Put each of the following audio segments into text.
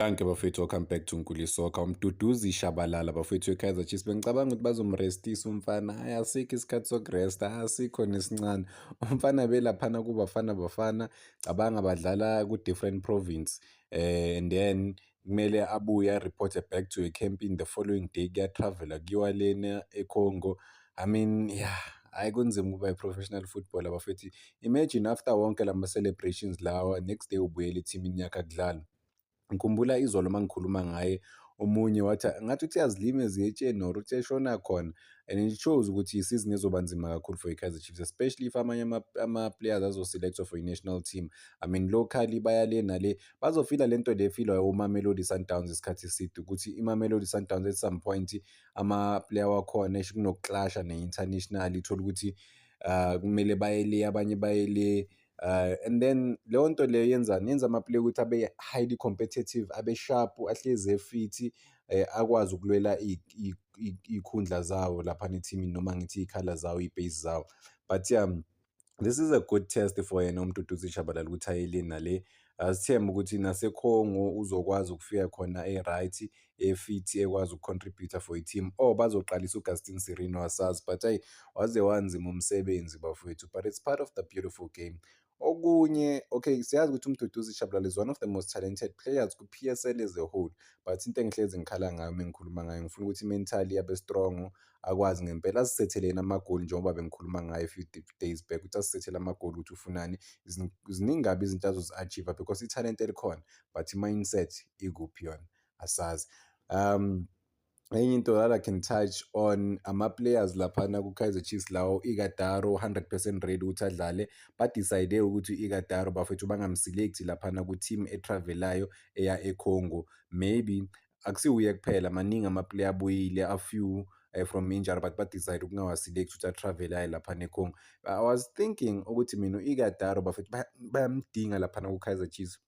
Danke bafethu welcome back to Nkuli Soccer. Umduduzi Shabalala bafethu eKaizer Chiefs bengicabanga ukuthi bazomrestisa umfana. Hayi asikho isikhathi sokuresta, asikho nesincane. Umfana belaphana kubafana bafana, cabanga badlala ku different province. Eh and then kumele abuye reporte back to a camp in the following day kuya travela kuyiwa lena eCongo. I mean yeah hayi kunzima ukuba i-professional footballer bafethu. Imagine after wonke lama celebrations lawa next day ubuyela ethimini yakhe akudlala. Ngikhumbula izolo uma ngikhuluma ngaye omunye wathi ngathi uthi azilima eziyetsheni or uthi eshona khona and it shows ukuthi isizini ezoba nzima kakhulu for i-kaizer chiefs especially if amanye ama-players azoselectwa for i-national team i mean locally baya le nale bazofila le nto le efilwa umamelodi sundowns isikhathi eside ukuthi imamelodi sundowns at some point ama-player wakhona esho kunokuklasha ne-international ithole ukuthi um kumele baye le abanye baye le Uh, and then leyo nto leyo yenzani yenza amaplayer ukuthi abe highly competitive abe sharp ahlezi efithi eh, akwazi ukulwela iy'khundla zawo lapha nethimini noma ngithi iy'khala zawo iy'pace zawo but ya um, this is a good test for yena umuntu uduze ishabalala ukuthi ayeleni nale asithembe ukuthi nasekhongo uzokwazi ukufika khona e-right efithi ekwazi ukucontributor for i-team or bazoqalisa uGustin Sirino asazi but ayi waze wanzima umsebenzi bafowethu but it's part of the beautiful game okunye okay siyazi ukuthi umduduzi Shabalala is one of the most talented players ku-PSL as a whole but into engihlezi ngikhala ngayo uma ngikhuluma ngayo ngifuna ukuthi mentally abe strong akwazi ngempela asisetheleni amagoli njengoba bengikhuluma ngayo a few days back ukuthi asisethele amagoli ukuthi ufunani ziningi kabi izinto azozi-achieve because ithalente elikhona but i-mindset ikuphi yona asazi um enye into that I can touch on ama-players laphana ku-Kaizer Chiefs lawo ikadaro 100% ready ukuthi adlale badecide ukuthi ikadaro bafethu bangamselekthi laphana ku-team etravelayo eya econgo maybe akusiwuye kuphela maningi ama-player abuyile afew uh, from injury but badecide ukungawaselekthi ukuthi atravele aye laphana econgo i was thinking ukuthi mina u-ikadaro bafethu bayamdinga laphana ku-Kaizer Chiefs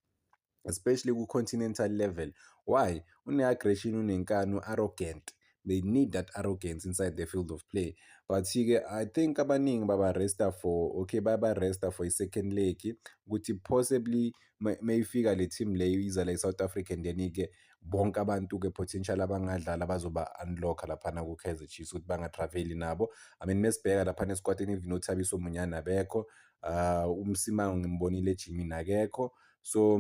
especially ku-continental level why une-aggression unenkani u-arrogant they need that arrogance inside the field of play but ke i think abaningi babaresta for okay babaresta for i-second leg ukuthi possibly mayifika le team leyo iza la i-south africa and then-ke bonke abantu-ke potential abangadlala bazoba-unlocka laphana ku-kaizer chiefs ukuthi bangatraveli nabo i mean mesibheka laphana esikwatini even othabiso munyana bekho um ah, umsimango ngimbonile ejimini akekho so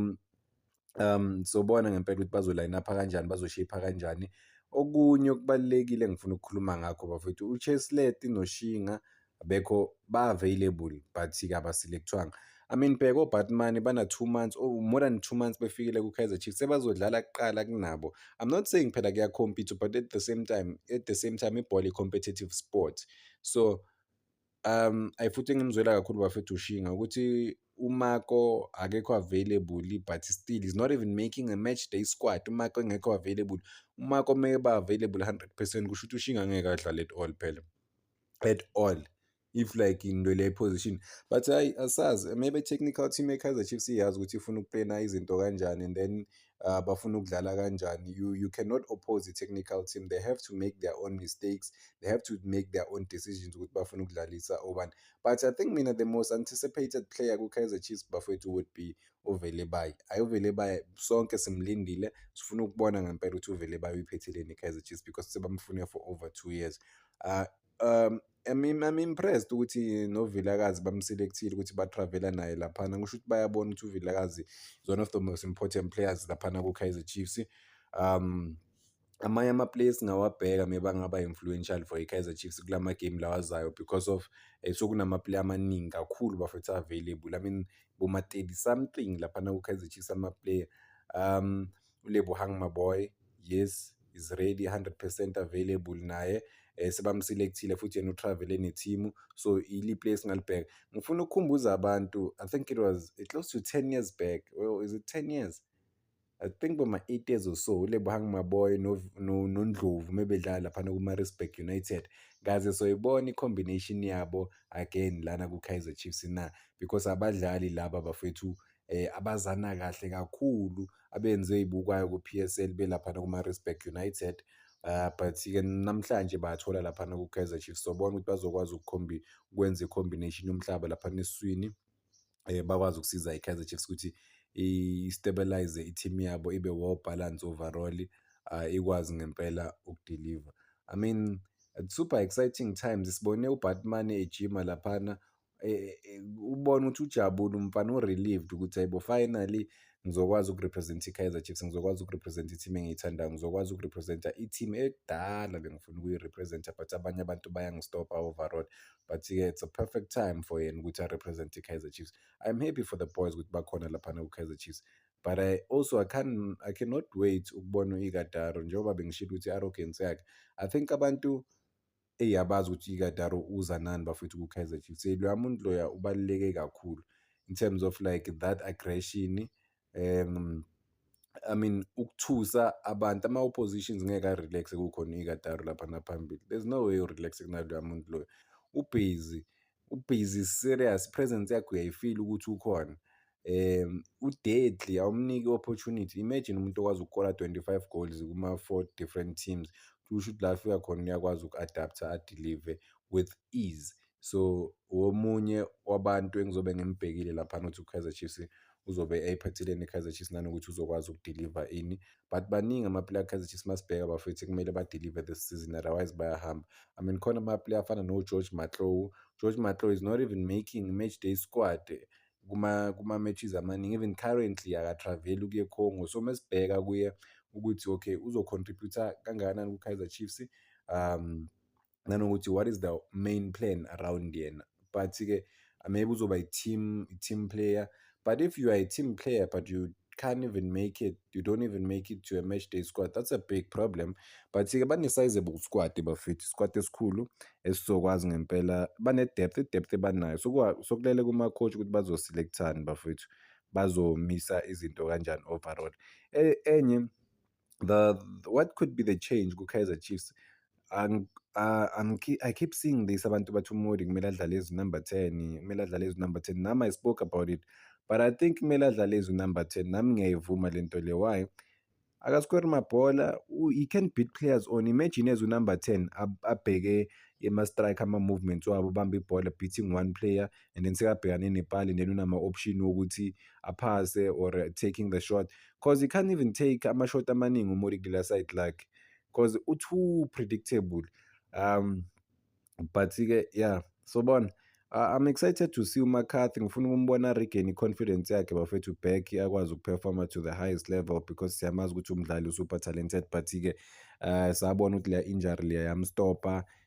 um sobona ngempela ukuthi bazoline up kanjani bazoshape kanjani okunye okubalekile engifuna ukukhuluma ngakho bafethu uCheslet noShinga abekho ba available but kabaselectwanga I mean bheka oBatman bana 2 months or oh, more than 2 months befikile kuKaizer Chiefs sebazodlala kuqala kunabo I'm not saying phela kuya compete but at the same time at the same time ibhola i competitive sport so Um, ayi futhi engimzwela kakhulu bafethu ushinga ukuthi uMako akekho available but still he's not even making a match day squad uMako engekho available uMako meke ba available 100% kusho ukuthi ushinga ngeke adlale at all phela at all if like into le position but hayi asazi maybe technical team eKaizer Chiefs iyazi ukuthi ifuna ukuplana izinto kanjani and then uh, bafuna ukudlala kanjani you, you cannot oppose the technical team they have to make their own mistakes they have to make their own decisions ukuthi bafuna ukudlalisa obani but i think mina the most anticipated player ku-kaizer chiefs bafowethu would be uvele bayi ayi uvele bayi sonke simlindile sifuna ukubona ngempela ukuthi uvele bayi uyiphetheleni i-kaizer chiefs because sebamfune for over two years uh, um I'm impressed ukuthi noVilakazi bamselekthile ukuthi batravela naye laphana kusho ukuthi bayabona ukuthi uVilakazi is one of the most important players laphana ku-Kaizer Chiefs um amanye ama-players singawabheka meba ngaba influential for i-Kaizer Chiefs kula ma-game lawazayo because of eh, sokunama-player amaningi kakhulu bafethu available I mean boma-30 something laphana ku-Kaizer Chiefs ama-player um uLebohang Maboy yes is ready 100% available naye eh, sebamselekthile futhi yena utravele nethimu so ili place singalibheka ngifuna ukukhumbuza abantu i think it was it close to 10 years back well, is it 10 years I think boma 8 years or so uLebohang Maboy noNdlovu mebedlala laphana kuMaritzburg United kaze soyibona i-combination yabo again lana ku-Kaizer Chiefs na because abadlali laba bafethu eh abazana kahle kakhulu abenze izibukwayo ku PSL belapha no Maritzburg United Uh, but ke namhlanje bathola lapha ku Kaizer Chiefs sobona ukuthi bazokwazi ukukhombi kwenza combination yomhlaba lapha neswini eh bakwazi ukusiza iKaizer Chiefs ukuthi i-stabilize i-team yabo ibe well balance overall uh, ikwazi ngempela ukudeliver i mean super exciting times sibone ubatman ejima laphana eh, eh, ubona ukuthi ujabule umfana u-relieved ukuthi hayibo finally ngizokwazi ukurepresenta i-kaizer chiefs ngizokwazi ukurepresenta i-team engiyithandayo ngizokwazi ukurepresenta i-team ekudala bengifuna ukuyirepresenta but abanye abantu bayangistopa overall but-ke it's a perfect time for yena ukuthi arepresente i-kaizer chiefs i'm happy for the boys ukuthi bakhona laphana ku-kaizer chiefs but I also I can I cannot wait ukubona u-Igataro njengoba bengishilo ukuthi i-arrogance yakhe I think abantu eyi abazi ukuthi ikadaro uza nani bafethu ku-kaizer chiefs eyi loya muntu loya ubaluleke kakhulu in terms of like that aggression um I mean ukuthusa abantu ama-oppositions ngeke a-relax kukhona ikadaro lapha naphambili there's no way u-relax kunaloya muntu loyo ubhizi Ubhizi serious, i-presence yakhe uyayifila ukuthi ukhona. Um u-deadly awumniki i-opportunity. Imagine umuntu okwazi ukukora 25 goals kuma-four different teams. Kusho ukuthi la afika khona uyakwazi uku-adapter adelive with ease. So womunye wabantu engizobe ngimbhekile laphana ukuthi uKaizer Chiefs uzobe eyiphathile ne-Kaizer Chiefs nanokuthi uzokwazi ukudeliver ini but baningi amaplayer a-Kaizer Chiefs masibheka bafethu kumele badeliver this season otherwise bayahamba I mean khona amaplayer afana no-George Matlou George Matlou is not even making match day squad kuma kuma matches amaningi even currently akatravel ukuye Congo so mesibheka kuye ukuthi okay uzocontributor kangakanani ku-Kaizer Chiefs um nanokuthi what is the main plan around yena but-ke maybe uzoba i-team i-team player but if you are a team player but you can't even make it you don't even make it to a match day squad that's a big problem but-ke bane-sizable squad bafethu isquad esikhulu esizokwazi ngempela bane-depth i-depth ebanayo sokulele kuma-coach ukuthi bazoselekthani bafethu bazomisa izinto kanjani overall e, enye the what could be the change ku-Kaizer Chiefs Ang- uh, I'm ke- I keep seeing this abantu bathi uModi kumele adlale as number 10 kumele adlale as number 10 nami I spoke about it but I think kumele adlale as number 10 nami ngiyayivuma le nto le why akasikori mabhola u- he can beat players on imagine as unumber 10 ab- abheke ema-strike ama-movements wabo ubambe ibhola beating one player and then sekabhekane nepali and then unama-option wokuthi aphase or taking the shot because he can't even take ama-shot amaningi umori kula side lakhe because u-too predictable um but-ke yeah so bona Uh, I'm excited to see uMcCarthy ngifuna ukumbona regain i-confidence yakhe bafethu back akwazi ukuperforma to the highest level because siyamazi ukuthi umdlali usuper talented but-ke uh, sabona ukuthi leya injury leya yamstopha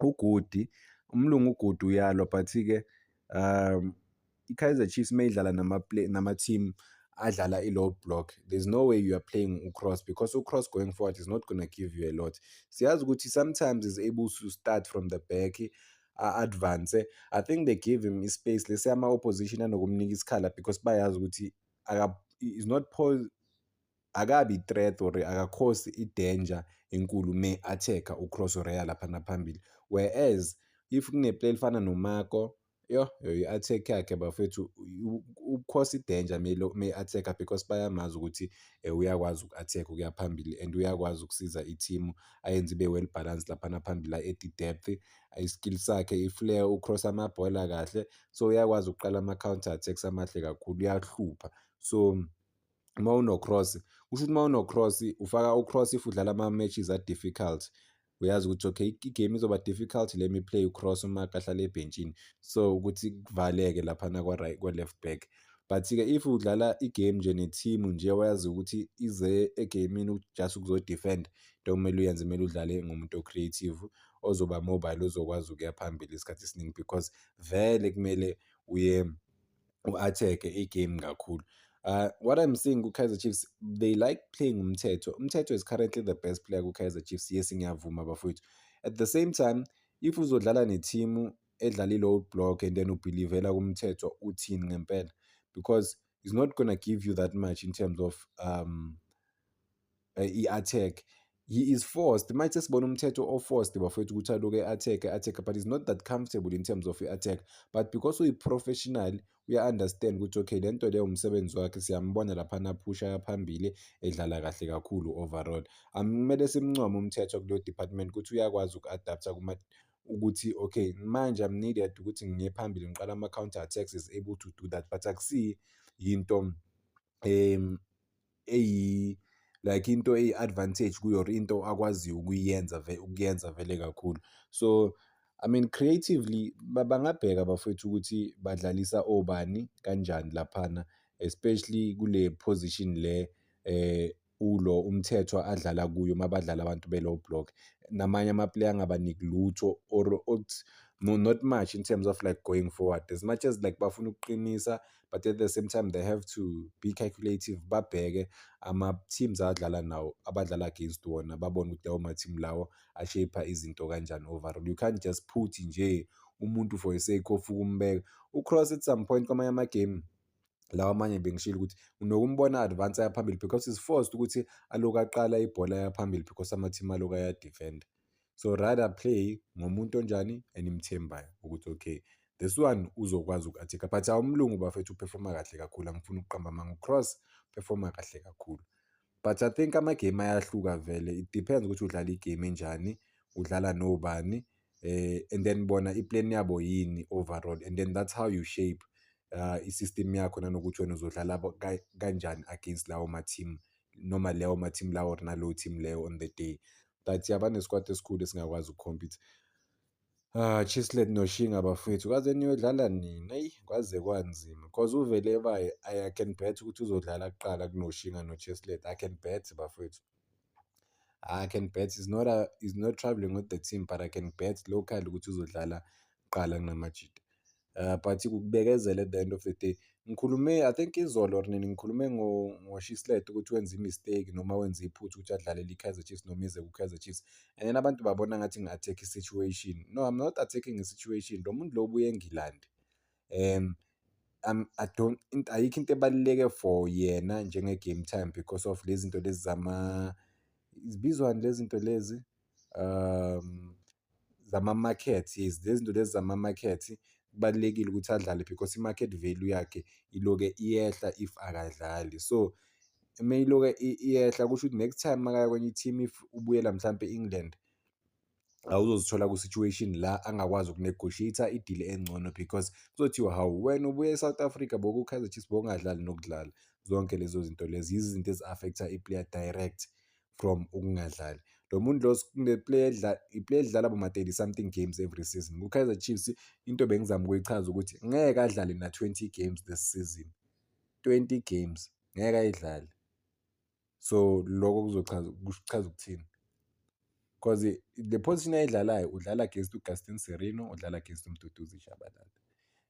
ugudi umlungu ugudi uyalwa but-ke um i-kaizer chiefs uma idlala nama-team adlala i-low block there's no way you are playing ucross because ucross going forward is not gonna give you a lot siyazi ukuthi sometimes is able to start from the back a-advance i think they give him ispace lesi ama-opposition anokumnika isikhala because bayazi ukuthi is not akabi threat or akakhosi i-danger enkulu me attack-a uCross Reya lapha naphambili whereas if kuneplay elifana noMako yho i-attack yakhe bafethu ukukhosa i-danger me i-attack-a because bayamazi ukuthi um uyakwazi uku-attack ukuya phambili and uyakwazi ukusiza ithimu ayenze ibe well balance laphana phambili a-edi depth i-skill sakhe i-flare ucross amabhola kahle so uyakwazi ukuqala ama-counter attacks amahle kakhulu uyahlupha so uma unocross kusho ukuthi uma unocross ufaka ucross if udlala ama-matches a-difficult uyazi ukuthi okay igame izoba difficult le mi play ucross uma kahlala ebhentshini so ukuthi kuvaleke laphana kwa-left back but-ke if udlala igame nje ne-team nje wayazi ukuthi ize egamini just ukuzodefend into okumele uyenze kumele udlale ngomuntu o-creative ozoba mobile ozokwazi ukuya phambili isikhathi esiningi because vele kumele uye u-attack i-game kakhulu uh, what i'm seeing ku-kaizer chiefs they like playing umthetho umthetho is currently the best player ku-kaizer chiefs yes ngiyavuma bafowethu at the same time if uzodlala nethimu edlala i-low block and then ubhilivela kumthetho uthini ngempela because it's not gonna give you that much in terms of um, eh, i-attack he is forced manje sesibona umthetho o-forced bafowethu ukuthi aloke e-attack e-attack but is not that comfortable in terms of i-attack but because uyi-professional uya-understand ukuthi okay le nto leyo umsebenzi wakhe siyambona laphana phusha yaphambili edlala kahle kakhulu overall kumele simncome umthetho kuleyo department ukuthi uyakwazi uku-adaptha ukuthi okay manje i'm needed ukuthi ngiye phambili ngiqala ama-counter attacks is able to do that but akusiyi yinto um eyi like into eyi-advantage kuyo or into akwaziyo ukuyenza ukuyenza vele kakhulu so I mean creatively bangabheka bafowethu ukuthi badlalisa obani kanjani laphana especially kule position le eh ulo umthethwa adlala kuyo mabadlala abantu below block namanye amaplayer angabaniki lutho or othi no not much in terms of like going forward as much as like bafuna ukuqinisa but at the same time they have to be calculative babheke ama-teams adlala nawo abadlala against wona babone ukuthi lawo ma-team lawo ashapha izinto kanjani overall you can't just put nje umuntu for sake of ukumbeka ucross at some point kwamanye amagame lawa amanye bengishilo ukuthi unokumbona advance ayaphambili because is forced ukuthi aloku aqala ibhola yaphambili because ama-team aloku ayadefenda so rather play ngomuntu onjani enimthembayo ukuthi okay this one uzokwazi uku-atheka but awumlungu bafethu uperforma kahle kakhulu angifuni ukuqamba amanga ucross performa kahle kakhulu but i think amagame ayahluka vele it depends ukuthi udlala igame enjani udlala nobani eh and then bona iplan yabo yini overall and then that's how you shape uh, i-system yakho nanokuthi wena uzodlala kanjani against lawo ma-team noma lewo ma-team lawo or nalowo team leyo on the day but yaba nesikwati esikhulu esingakwazi ukukhompyutha Ah, Chislet noShinga bafwethu kaze niyodlala nini? Eyi kwaze kwanzima cause uvele baye I can bet ukuthi uzodlala kuqala kunoShinga noChislet. I can bet bafwethu. I can bet is not a, is not traveling with the team but I can bet local ukuthi uzodlala kuqala kunamajita. uh, but ukubekezela at the end of the day ngikhulume i think izolo or nini ngikhulume ngoshislet ukuthi wenze imistake noma wenze iphutha ukuthi adlalele i-kaizer chiefs noma ize ku-kaizer chiefs and then abantu babona ngathi ngi-attack i-situation no i'm not attacking i-situation lo muntu lo ubuye engilandi um um, I don't ayikho into ebaluleke for yena njenge-game time because of lezi zinto lezi zama zibizwani lezi zinto lezi um zama-market yes lezi zinto lezi zama-market kubalulekile ukuthi adlale because i-market value yakhe iloke iyehla if akadlali so uma iloke iyehla kusho ukuthi next time makaya kwenye i-team if ubuyela mhlampe e-england awuzozithola ku-situation la angakwazi ukunegotiate idile engcono because kuzothiwa hawu wena ubuye e-south africa boku-kaizer chiefs bokungadlali nokudlala zonke lezo zinto lezi yizinto ezi-affecta i-player direct from ukungadlali lo muntu lo kuneplayer edlala iplayer edlala boma 30 something games every season ku-Kaizer Chiefs into bengizama ukuyichaza ukuthi ngeke adlale na 20 games this season 20 games ngeke ayidlale so lokho kuzochaza kuchaza ukuthini because the position ayidlalayo udlala against uGaston Serino udlala against uMduduzi Shabalala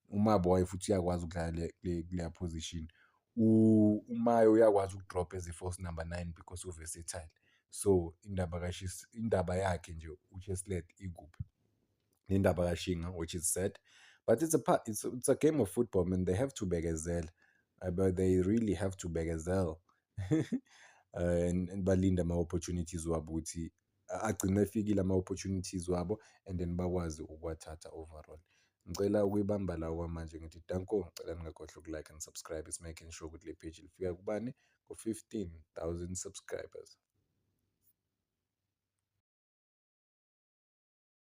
umaboy futhi uyakwazi ukudlala kuleya position umayo uyakwazi ukudropha as i-force number nine because uversatile so indaba kashis indaba yakhe nje ucheslet ikuphi nendaba kashinga which is sad but it's a part it's, it's a game of football man they have to bekezela uh, but they really have to bekezela uh, and, and balinda ama-opportunities wabo ukuthi agcine efikile ama-opportunities wabo and then bakwazi ukuwathatha overall. Ngicela ukuyibamba la okwamanje ngithi danko, ngicela ningakhohlwa uku-like and subscribe is making sure ukuthi le page lifika kubani ku-fifteen thousand subscribers.